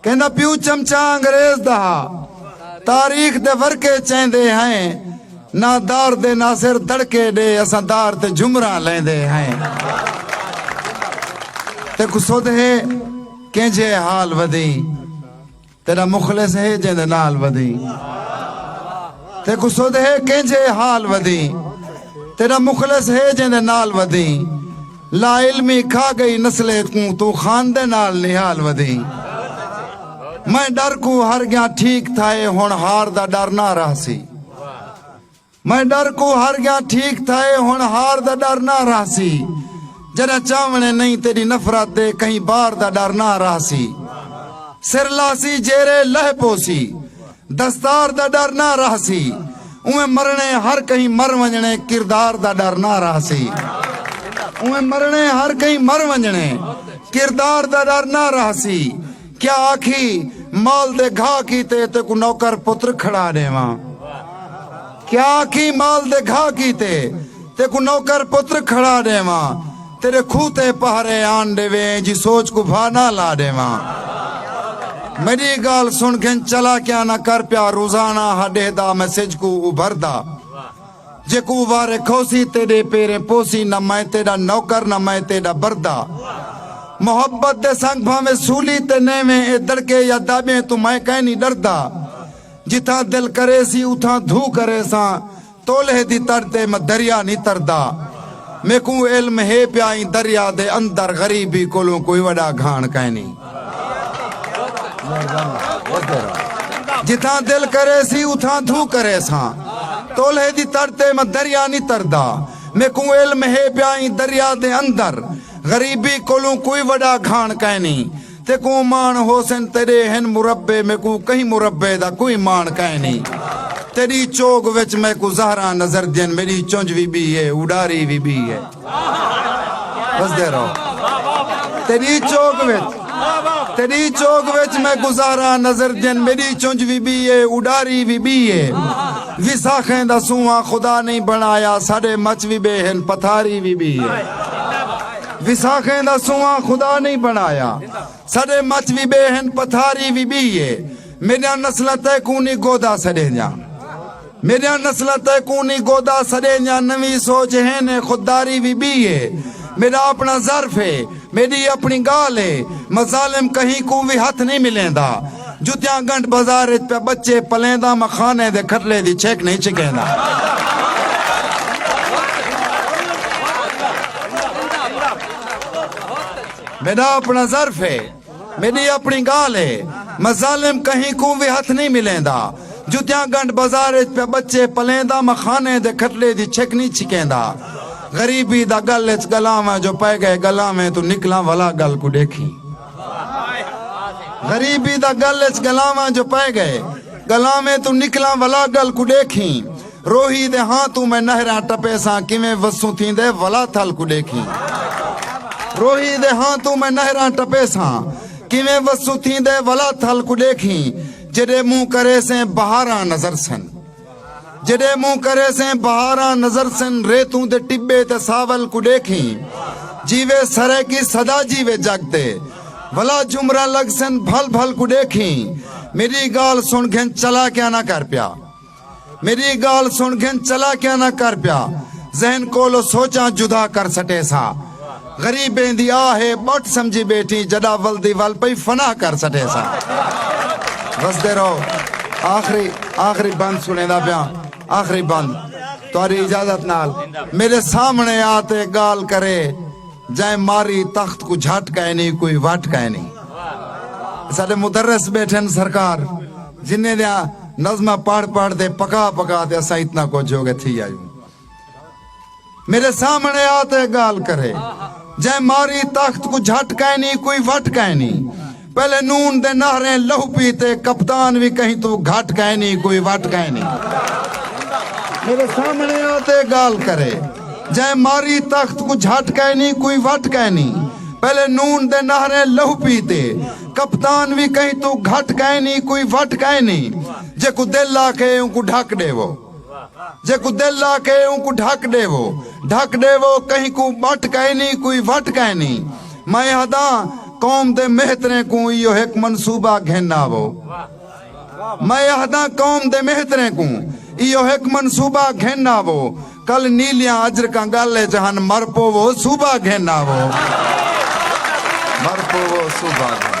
کیندا پیو چمچہ انگریز دا ہا۔ تاریخ دے ورقے چیندے ہئیں۔ نہ دار دے ناصر دڑکے ݙے اساں دار تے جھمراں لیندے ہئیں۔ تیکوں سدھ ہے کینجھے حال ودھیں۔ تیݙا مخلص ہے جیندے نال ودھیں۔ تیکوں سدھ ہے کینجھے حال ودھیں۔ تیݙا مخلص ہے جیندے نال ودھیں۔ لا علمی کھا گئی نسلے کوں توں خان دے نال نہال ودھیں میں ڈر کوں ہر گیاں ٹھیک تھائے ہن ہار دا ڈر نہ رہسی میں ڈر کوں ہر گیاں ٹھیک تھائے ہن ہار دا ڈر نہ رہسی جڑا چاونے نہیں تیری نفرت دے کہیں بار دا ڈر نہ رہسی سر لاسی جیرے لہ پوسی دستار دا ڈر نہ رہسی اونویں مرنڑے ہر کہیں مر ونجنڑے کردار دا ڈر نہ رہسی اونویں مرنڑے ہر کہیں مر ونجنڑے کردار دا ڈر نہ رہسی کیا آکھی مال دے گھا کیتے تے کو نوکر پتر کھڑا ڈیواں کیا آکھی مال دے گھا کیتے تے کو نوکر پتر کھڑا ڈیواں تیڈے کھوہ تے پہرے آن ڈیویں جی سوچ کوں بھا نہ لا ڈیواں میڈی گال سن گھن چلاکیاں نہ کر پیا روزانہ ہا ڈیہدا میں سج کوں ابھردا جے کوں وارے کھوسی تیڈے پیریں پوسی نہ میں تیڈا نوکر نہ میں تیڈا بردا محبت دے سنگ بھاویں سولی تے نیویں اے دڑکے یا دابیں توں میں کائنی ڈردا جتھاں دل کریسی اتھاں دھو کریساں تولہے دی تڑ تے میں دریا نی تردا میکوں علم ہے پیا ایں دریا دے اندر غریبی کولوں کوئی وڈا گھاݨ کائنی جتھاں دل کرے سی اتھاں تھوں کرے ساں تولہے دی تڑ تے میں دریا نی تردا میکوں علم ہے پیا ایں دریا دے اندر غریبی کولوں کوئی وڈا گھاݨ کائنی تیکوں ماݨ ہوسن تیݙے ہن مربے میکوں کہیں مربے دا کوئی ماݨ کائنی تیݙی چوڳ وچ میکوں زہراں نظردین میݙی چنج وی ٻی اے اݙاری وی ٻی اے وسدے رہو تیݙی چوڳ وچ تیݙی چوڳ وچ میکوں زہراں نظردین میݙی چنج وی ٻی اے اݙاری وی ٻی اے وساخیں دا سونہاں خدا نئیں بݨایا ساݙے مچ وی ٻئے ہن پتھاری وی ٻی اے وساخیں دا سونہاں خدا نئیں بݨایا ساݙے مچ وی ٻئے ہن پتھاری وی ٻئی اے میݙیاں نسلاں تیکوں نی گودا سݙیندیاں میݙیاں نسلاں تیکوں نی گودا سݙیندیاں نویں سوچ ہن اے خودداری وی ٻئی اے میݙا اپݨا ظرف اے میݙی اپݨی ڳالھ اے مظالم کہیں کوں وی ہتھ نئیں ملیندا۔ جتیاں گنڈھ بازار اچ پیا بچے پلینداں میں خانے دے کھٹلے دی چھک نہیں چھکینداں۔ میڈا اپنا ظرف ہے میڈی اپنی گال ہے میں ظالم کہیں کوں بھی ہتھ نہیں ملیں دا جتیاں گنڈ بازار اچ پہ بچے پلیں دا میں خانے دے کھٹلے دی چھک نہیں چھکیں دا غریبی دا گل اچ گلاں میں جو پہ گئے گلاں میں تو نکلاں والا گل کو دیکھیں غریبی دا گل اچ گلاواں جو پئے گئے گلاویں توں نکلاں ولا گل کو ڈیکھیں روہی دے ہاں توں میں نہراں ٹپیساں کیویں وسوں تھیندے ولا تھل کو ڈیکھیں روہی دے ہاں توں میں نہراں ٹپیساں کیویں وسوں تھیندے ولا تھل کو ڈیکھیں جڈے منہ کریسیں بہاراں نظر سن جݙے مونہہ کرے سیں بہاراں نظر سن ریتوں دے ٹبے تے ساول کوں ݙیکھیں جیوے سرائیکی صدا جیوے جگ تے ولا جھمراں لڳ سن بھل بھل کوں ݙیکھیں میݙی ڳالھ سݨ گھن چلا کیا نہ کر پیا میݙی ڳالھ سݨ گھن چلا کیا نہ کر پیا ذہن کولو سوچاں جدا کر سٹے ساں غریبیں دی آہ ہے بٹ سمجھی بیٹھیں جڈا ول دی ول پئی فنا کر سٹے ساں وسدے رہو آخری آخری بند سنے دا پیاں آخری بند تواری اجازت نال میرے سامنے آتے گال کرے جائے ماری تخت کو جھٹ کہے نہیں کوئی وٹ کہے نہیں سارے مدرس بیٹھے سرکار جنہیں دیا نظمہ پڑھ پڑھ دے پکا پکا دے اسا اتنا کو جو گے تھی آئیوں میڈے سامنے آ تے گالھ کرے۔ جئیں ماری تخت کوں جھٹ کائنی کوئی وٹ کائنی۔ پہلے نون دے نہریں لہو پیتے کپتان وی کہیں توں گھٹ کائنی کوئی وٹ کائنی۔ میڈے سامنے آ تے گالھ کرے۔ جئیں ماری تخت کوں جھٹ کائنی کوئی وٹ کائنی۔ پہلے نون دے نہریں لہو پیتے کپتان وی کہیں توں گھٹ کائنی کوئی وٹ کائنی۔ جیکوں دل آکھے اونکوں ڈھک ڈیوو۔ جیکوں دل لا کے اونکوں ڈھک ڈیوو ڈھک ڈیوو کہیں کوں بٹ کائنی کوئی وٹ کائنی میں ہداں قوم دے مہتریں کوں ایہو ہک منصوبہ گھن آوو میں ہداں قوم دے مہتریں کوں ایہو ہک منصوبہ گھن آوو کل نیلیاں اجرکاں گل اچ ہن مر پوو صوبہ گھن آوو مر پوو صوبہ گھن